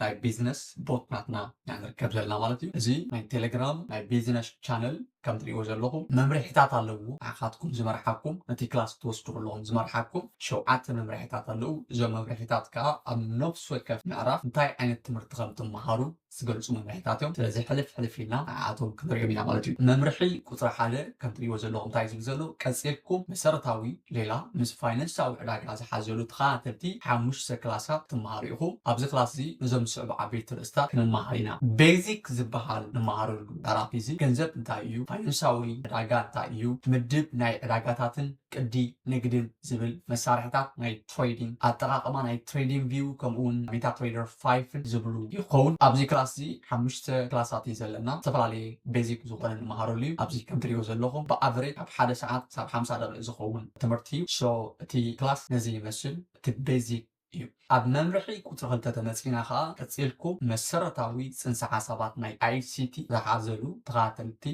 ናይ ቢዝነስ ቦት ናትና ኢና ንርከብ ዘለና ማለት እዩ። እዚ ናይ ቴሌግራም ናይ ቢዝነሽ ቻነል ከም ትሪእዎ ዘለኹም መምርሒታት ኣለዉዎ ንዓኻትኩም ዝመርሓኩም ነቲ ክላስ ክትወስዱ ከለኹም ዝመርሓኩም ሸውዓተ መምርሒታት ኣለዉ። እዞም መምርሒታት ከኣ ኣብ ነፍሲ ወከፍ ምዕራፍ እንታይ ዓይነት ትምህርቲ ከም ትመሃሩ ዝገልጹ መምርሒታት እዮም። ስለዚ ሕልፍ ሕልፍ ኢልና ንዓኣቶም ክንሪኦም ኢና ማለት እዩ። መምርሒ ቁጽሪ ሓደ። ከም ትሪእዎ ዘለኹም ታይ ዝብል ዘሎ ቀፂልኩም መሰረታዊ ሌላ ምስ ፋይነንሳዊ ዕዳጋ ዝሓዘሉ ተኸታተልቲ ሓሙሽተ ክላሳት ክትመሃሩ ኢኹም። ኣብዚ ክላስ እዚ ነዞም ዝስዕቡ ዓበይቲ ኣርእስታት ክንመሃር ኢና። ቤዚክ ዝበሃል ንመሃረሉ ምዕራፍ እዚ ገንዘብ እንታይ እዩ? ፋይነንሳዊ ዕዳጋ እንታይ እዩ? ምድብ ናይ ዕዳጋታትን ቅዲ ንግድን ዝብል መሳርሕታት ናይ። ትሬዲንግ፣ ኣጠቓቕማ ናይ ትሬዲንግ ቪው ከምኡውን ሜታትሬደር ፋይፍን ዝብሉ ይኸውን። ኣብዚ ክላስ እዚ ሓሙሽተ ክላሳት እዩ ዘለና። ዝተፈላለየ ቤዚክ ዝኾነ ንመሃረሉ እዩ። ኣብዚ ከም ትሪእዎ ዘለኹም ብኣቨሬጅ ካብ ሓደ ሰዓት ክሳብ ሓምሳ ደቒቕ ዝኸውን ትምህርቲ እዩ። ሶ እቲ ክላስ ነዚ ይመስል። እቲ ቤዚክ እዩ። ኣብ መምርሒ ቁጽሪ ክልተ ተመጺና ከኣ ቀጺልኩም መሰረታዊ ጽንሰ ሓሳባት ናይ ICT ዝሓዘሉ ተኸታተልቲ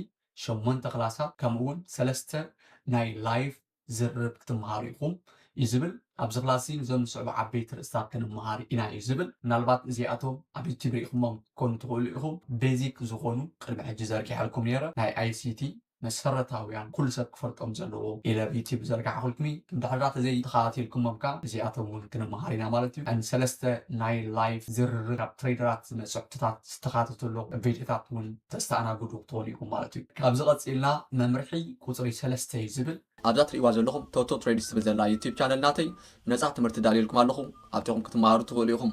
ሸሞንተ ክላሳት ከምኡውን ሰለስተ ናይ ላይቭ ዝርርብ ክትመሃሩ ኢኹም እዩ ዝብል። ኣብዚ ክላስዚ እዞም ዝስዕቡ ዓበይቲ ርእስታት ክንመሃር ኢና እዩ ዝብል። ምናልባት እዚኣቶም ኣብ ዩቱብ ርኢኹሞም ክትኮኑ ትኽእሉ ኢኹም። ቤዚክ ዝኾኑ ቅድሚ ሕጂ ዘርጊሐልኩም ነይረ ናይ ኣይሲቲ መሰረታውያን ኩሉ ሰብ ክፈልጦም ዘለዎ ኢለ ኣብ ዩቱብ ዝዘርጋሕኹልኩም እዩ። እንድሕርዳ ተዘይ ተኸታቲልኩሞም ከኣ እዚኣቶም እውን ክንመሃር ኢና ማለት እዩ። ን ሰለስተ ናይ ላይፍ ዝርርብ ካብ ትሬደራት ዝመጹ ሕቶታት ዝተኻተቱ ኣሎ ቪድዮታት እውን ተስተኣናግዱ ክትኾኑ ኢኹም ማለት እዩ። ካብዚ ቀጺልና መምርሒ ቁጽሪ ሰለስተ እዩ ዝብል። ኣብዛ ትርእይዋ ዘለኹም ቶቶ ትሬድስ ትብል ዘላ ዩቱብ ቻነል ናተይ ነጻ ትምህርቲ ዳልየልኩም ኣለኹ ኣብቲኹም ክትመሃሩ ትኽእሉ ኢኹም።